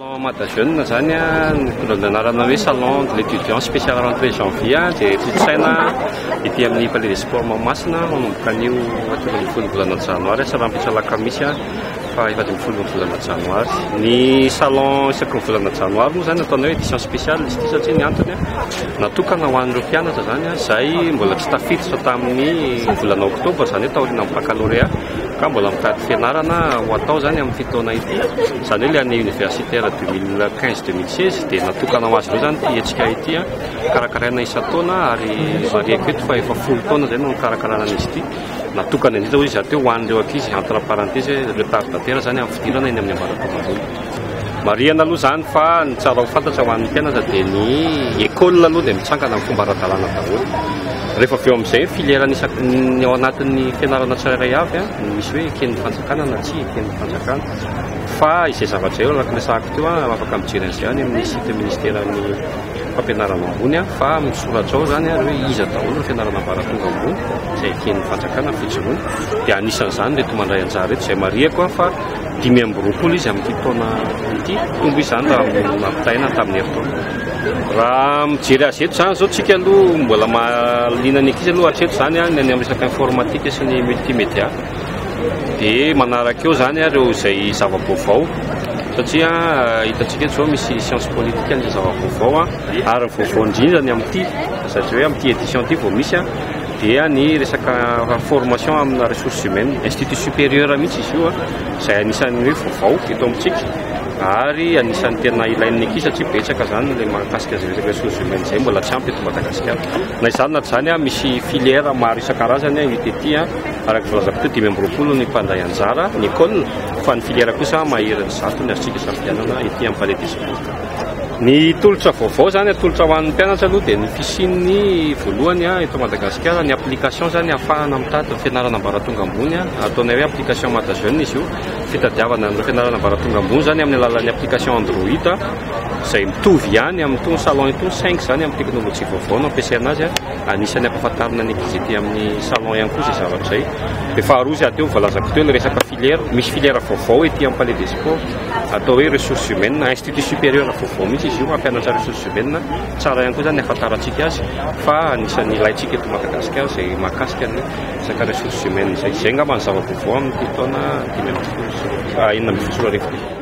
Salon Mada Jeune zany a, mitondra ny anarana hoe Salon de l'étudiant spécial rentrée janvier dia tontosaina ety amin'ny Palais des Sports Mahamasina manomboka anio hatramin'ny ambin'ny folo volana janoary sy hatramin'ny fito alakamisy fa efa dimy folo volana janoary. Ny salon isaky ny volana janoary moa zany ataonay hoe édition spéciale izy ity satria ny antony natokana ho an'ireo mpianatra zany izay mbola tsy tafiditra tamin'ny volana oktobra zany hoe taorian'ny baccalauréat Ka mbola mitady fianarana ho atao izany amin'ity taona ity, izany hoe ilay année universitaire deux mille quinze deux mille seize dia natokana ho azy ireo izany ity hetsika ity. Karakaraina isan-taona ary marihiko eto fa efa folo taona izay no nikarakarana an'izy ity. Natokana indrindra hoy izy rahateo ho an'ireo ankizy, entre parenthèses, hoe retardataires izany amin'ny fidirana eny amin'ny ambaratonga ambony. Marihana aloha izany fa ny tsara ho fantatra ho an'ny mpianatra dia ny école aloha dia mitsangana amin'ny fomba ara-dalàna daholo. Rehefa avy eo amin'izay ny filière-ny isak- ny ao anatin'ny fianarana tsirairay avy an, ny misy hoe eken'ny fanjakana na tsy eken'ny fanjakana. Fa izay zavatra eo araka ny resahako teo an, afaka mijery an'izay any amin'ny site ministeran'ny fampianarana ambony an, fa misoratra ao izany ary hoe iza daholo ny fianarana ambaratonga ambony izay eken'ny fanjakana fijoroana. Dia anisan'izany ireto mandray anjara ireto izay marihako an fa. Dimy amby roapolo izy amin'ity taona ity. Tombo izany raha amin'ny nampitahaina tamin'ny herintaona. Raha mijery azy eto izany izao tsika aloha mbola mahaliana ny ankizy aloha hatreto izany any amin'ny resaka informatika sy ny multimédia. Dia manaraka eo izany ireo izay zava-baovao satria eh, hitantsika eto izao misy science politique ny zava-baovao ary ny vaovao indrindra ny amin'ity satria hoe amin'ity édition ity vao misy dia ny resaka formation amina ressources humaines, institut supérieur mihitsy izy io izay anisan'ny hoe vaovao eto amintsika ary anisan'ny tena ilain'ny ankizy satria betsaka izany ilay mahakasika izay resaka ressources humaines izay mbola tsy ampy eto Madagasikara. Na izany na tsy izany misy filière maro isan-karazany hita ety araka ny filazako teo dimy amby roapolo ny mpandray anjara ny école fa ny filière kosa maherin'ny zato ny azontsika isafidianana ety amin'ny palais des sports. Ny tolotra vaovao izany, atolotra ho an'ny mpianatra aloha dia ny piscine voalohany eto Madagasikara, ny application izany ahafahana mitady ny fianarana ambaratonga ambony, ataonay hoe application Madajeune izy io, fitadiavana ny fianarana ambaratonga ambony izany amin'ny alalan'ny application Android izay mitovy ihany amin'itony salon itony saingy izany amin'ny teknolojia vaovao no ampiasaina azy, anisan'ny ampahafantarina ny ankizy ety amin'ny salon ihany koa izay zavatra izay, dia faharoa izay aty voalazako teo ilay resaka. Filière, misy filière vaovao ety amin'ny Palais des Sports atao hoe ressources humaines, institut supérieur vaovao mihitsy izy io hampianatra ressources humaines, tsara ihany koa izany ny hahafantarantsika azy fa anisan'ny ilaintsika eto Madagasikara izay mahakasika ny resaka ressources humaines izay, izay angamba ny zava-baovao amin'ity taona dimy ambin'ny folo sy enina ambin'ny folo sy roa arivo ity.